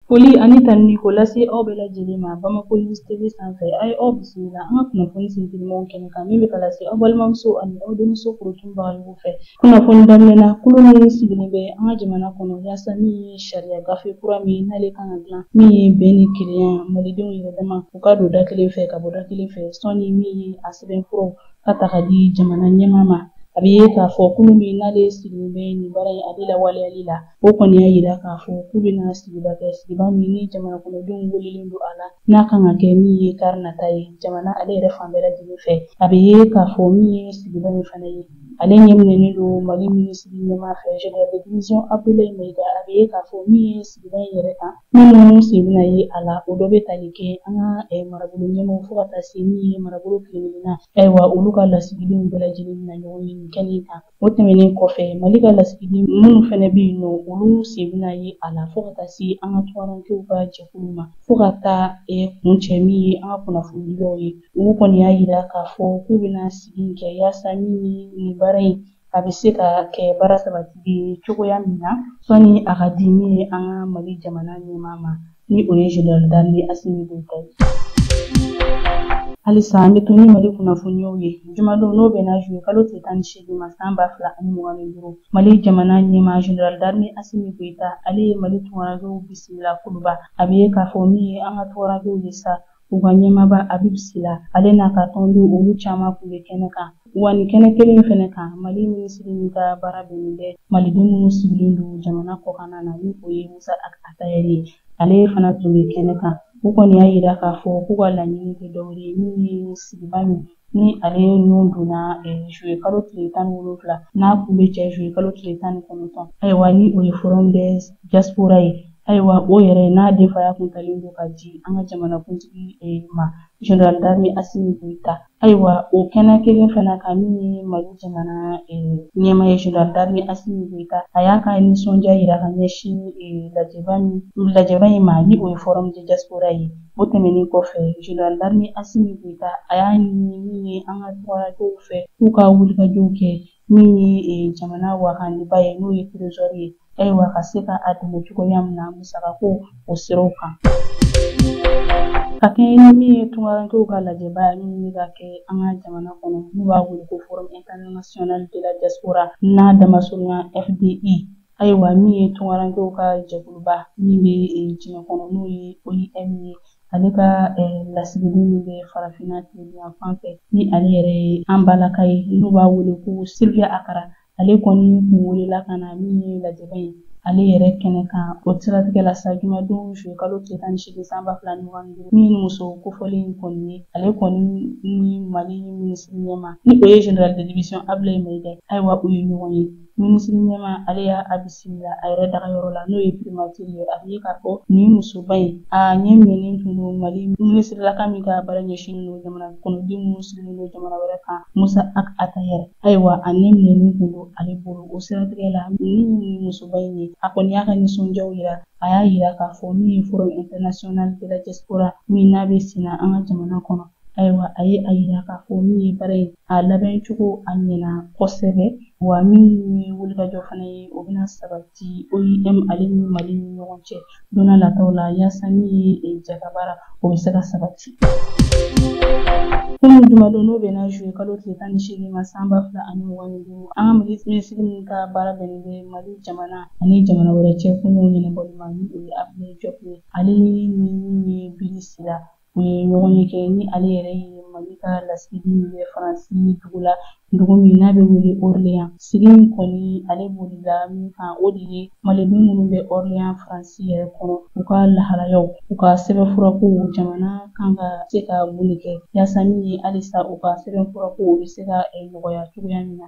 Foli ani tanuni k'o lase aw bɛɛ lajɛlen ma Bamako News TV sanfɛ a ye aw bisimila an ka kunnafoni sintigimanw kɛnɛ kan min bɛ ka lase aw balimamuso ani aw denmuso korotun bagayogo fɛ kunnafoni daminɛ na kulu min sigilen bɛ an ka jamana kɔnɔ yaasa min ye sariya gafe kura min ye n'ale kan ka dilan min ye bɛn ni kelenya malidenw yɛrɛ dama u ka don da kelen fɛ ka bɔ da kelen fɛ sanni min ye a sɛbɛnfuraw ka ta ka di jamana ɲɛmaa ma a bɛ ye k'a fɔ kulu min n'ale sigilen bɛ nin baara in ale lawaleyali la O kɔni y'a yira k'a fɔ k'u bɛna sigiba kɛ sigiba min ni jamana kɔnɔdenw welelen don a la n'a kan ka kɛ min ye kari nata ye jamana ale yɛrɛ fan bɛɛ lajɛlen fɛ a bɛ ye k'a fɔ min ye sigiba in fana ye ale ɲɛminɛnen don mali minisiri ɲɛmaa fɛ general de division abdoulaye mayiga a bɛ ye k'a fɔ min ye sigiba in yɛrɛ kan minnu sen bɛna ye a la o dɔ bɛ tali kɛ an ka eh, marabolo ɲɛmaaw fo ka taa se min ye marabolo kelen-kelenna ayiwa olu ka lasigidenw bɛɛ lajɛlen bɛna ɲɔgɔn ye nin kɛnɛ kan O tɛmɛnen kɔfɛ mali ka lasigiden minnu fana bɛ yen nɔ olu sen bɛna ye a la fo ka taa se an ka tungarankew ka jɛkulu ma fo ka taa e, kuncɛ min ye an ka kunnafonidilaw ye olu kɔni y'a yira k'a fɔ k'u bɛna sigi kɛ yaasa min ye nin baara in a bɛ se ka kɛ baara sabatilen ye cogoya min na sanni a ka di min ye an ka mali jamana ɲɛmaa ma ni o ye General d'armée Asimi Goyita ye. Halisa an bɛ to ni Mali kunnafoniyaw ye jumadon n'o bɛnna zuye kalo tile tan ni seegin ma san ba fila ani mugan ni duuru Mali jamana ɲɛmaa General d'armée Asimi Goyita ale ye Mali tungarankew bisimila Kuluba a bɛ ye k'a fɔ min ye an ka tungarankew ye sa u ka ɲɛmaaba Abibu Sila ale n'a ka tɔndenw olu caman tun bɛ kɛnɛ kan wa nin kɛnɛ kelen in fɛnɛ kan mali minisiri min ka baara bɛnnen bɛ maliden minnu sigilen don jamana kɔkanna na ni o ye musa atayɛri ye ale fana tun bɛ kɛnɛ kan u kɔni y'a yira k'a fɔ k'u ka laɲini tɛ dɔwɛrɛ ye min ye sigiba min ni ale nun donna zuye kalo tile tan ni wolonwula n'a kun bɛ cɛ zuye kalo tile tan ni kɔnɔntɔn ayiwa ni o ye forum de diaspora ye ayiwa o yɛrɛ n'a denfaya kun talen don ka di an ka jamanakuntigi ma general d'armée asimi goyita ayiwa o kɛnɛ kelen fana kan min ye mali jamana ɲɛmaa ye general d'armée asimi goyita a y'a ka nisɔndiya yira ka ɲɛsin lajɛba in ma ni o ye forum de diaspora ye O tɛmɛnen kɔfɛ General d'armée Assimi Goïta a y'a ɲini min ye an ka tungarankew fɛ k'u ka wulikajɔw kɛ min ye e, jamana wagandeba ye n'o ye trésor ye ayiwa ka se ka a dɛmɛ cogoya min na musakako o siraw kan. Ka kɛɲɛ ni min ye tungarankew ka lajɛba ye min bɛ ka kɛ an ka jamana kɔnɔ n'u b'a wele ko Forum international de la diaspora n'a damasurunya FDI, Ayiwa min ye tunkarankew ka jɛkuluba min bɛ diɲɛ kɔnɔ n'o ye OIM ye ale ka lasigiden min bɛ farafinna tilebinyan fan fɛ ni ale yɛrɛ ye an balaka ye n'u b'a wele ko Sylvia Ekra ale kɔni kun welela ka na min ye lajɛba ye ale yɛrɛ kɛnɛ kan o siratigɛ la sa jumadon juye kalo tile tan ni seegin san ba fila ni mugan ni duuru min muso kofɔlen in kɔni ye ale kɔni ni mali minisiri ɲɛmaa ni o ye général de division ablaye mayiga ayiwa u ye ɲɔgɔn ye minisiri ɲɛmaa ale y'a bisimila a yɛrɛ dagayɔrɔ la n'o ye primatiri ye a bɛ ye k'a fɔ nin musoba in a ɲɛ minɛnen tun don mali minisirlaka min ka baara ɲɛsinnen don jamana kɔnɔden minnu sigilen don jamana wɛrɛ kan Musa Ag Attaher ayiwa a ɲɛ minɛnen tun don ale bolo o siratigɛ la min nin musoba in ye a kɔni y'a ka nisɔndiyaw yira a y'a yira k'a fɔ min ye forum international de la diaspora min n'a bɛ senna an ka jamana kɔnɔ ayiwa a ye a yira k'a fɔ min ye baara in a labɛn cogo a ɲɛna kosɛbɛ wa min ye wulikajɔ fana ye o bɛna sabati OIM ale ni mali ni ɲɔgɔn cɛ don nataw la yaasa min ye e, jɛkabaara o bɛ se ka sabati Kunun jumadon n'o bɛnna juye kalo tile tan ni seegin ma san ba fila ani mugan ni duuru, an ka minisiri min ka baara bɛnnen bɛ Mali jamana ani jamana wɛrɛ cɛ kunkow ɲɛnabɔli ma ni o ye Abdulaye Diop ye, ale ni min ye Bili Sila U ye ɲɔgɔnye kɛ ni ale yɛrɛ ye Mali ka lasigiden min bɛ Faransi dugu la dugu min n'a bɛ wele Orléans sigi in kɔni ale bolila min kan o de ye Maliden minnu bɛ Orléans Faransi yɛrɛ kɔnɔ u ka lahalayaw u ka sɛbɛnfurakow jamana kan ka se ka mun de kɛ yaasa min ye halisa u ka sɛbɛnfurakow bɛ se ka eh, nɔgɔya cogoya min na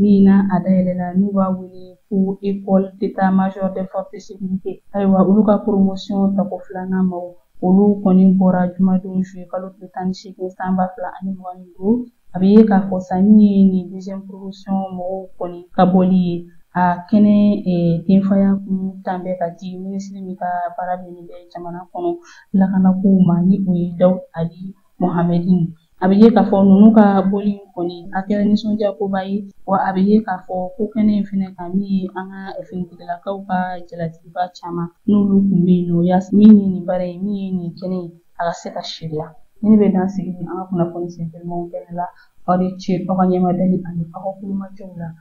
min na a dayɛlɛla n'u b'a wele ko école d'état-major des forces de sécurité ayiwa olu ka promotion tako filanan maw olu kɔni bɔra jumadon juye kalo tile tan ni seegin san ba fila ani mugan ni duuru a bɛ ye k'a fɔ sa min ye nin deuxième promotion mɔgɔw kɔni ka bɔli ye a kɛnɛ denfaya kun tan bɛ ka di minisiri min ka baara bɛnnen bɛ jamana kɔnɔ lakanakow ma ni o ye dawud ali Mohamɛdin a bɛ ye k'a fɔ ninnu ka bɔli in kɔni a kɛra nisɔndiyakoba ye wa a bɛ ye k'a fɔ ko kɛnɛ in fɛnɛ kan min ye an ka finitigilakaw ka jalatigiba caman n'olu kun bɛ yen nɔ yaasa min ye nin baara ye min ye nin kɛnɛ ye a ka se ka seereya nin bɛ dan sigi ni an ka kunnafoni senfɛmaw kɛnɛ la aw ni ce aw ka ɲɛmadali ani aw ka kulomajɔw la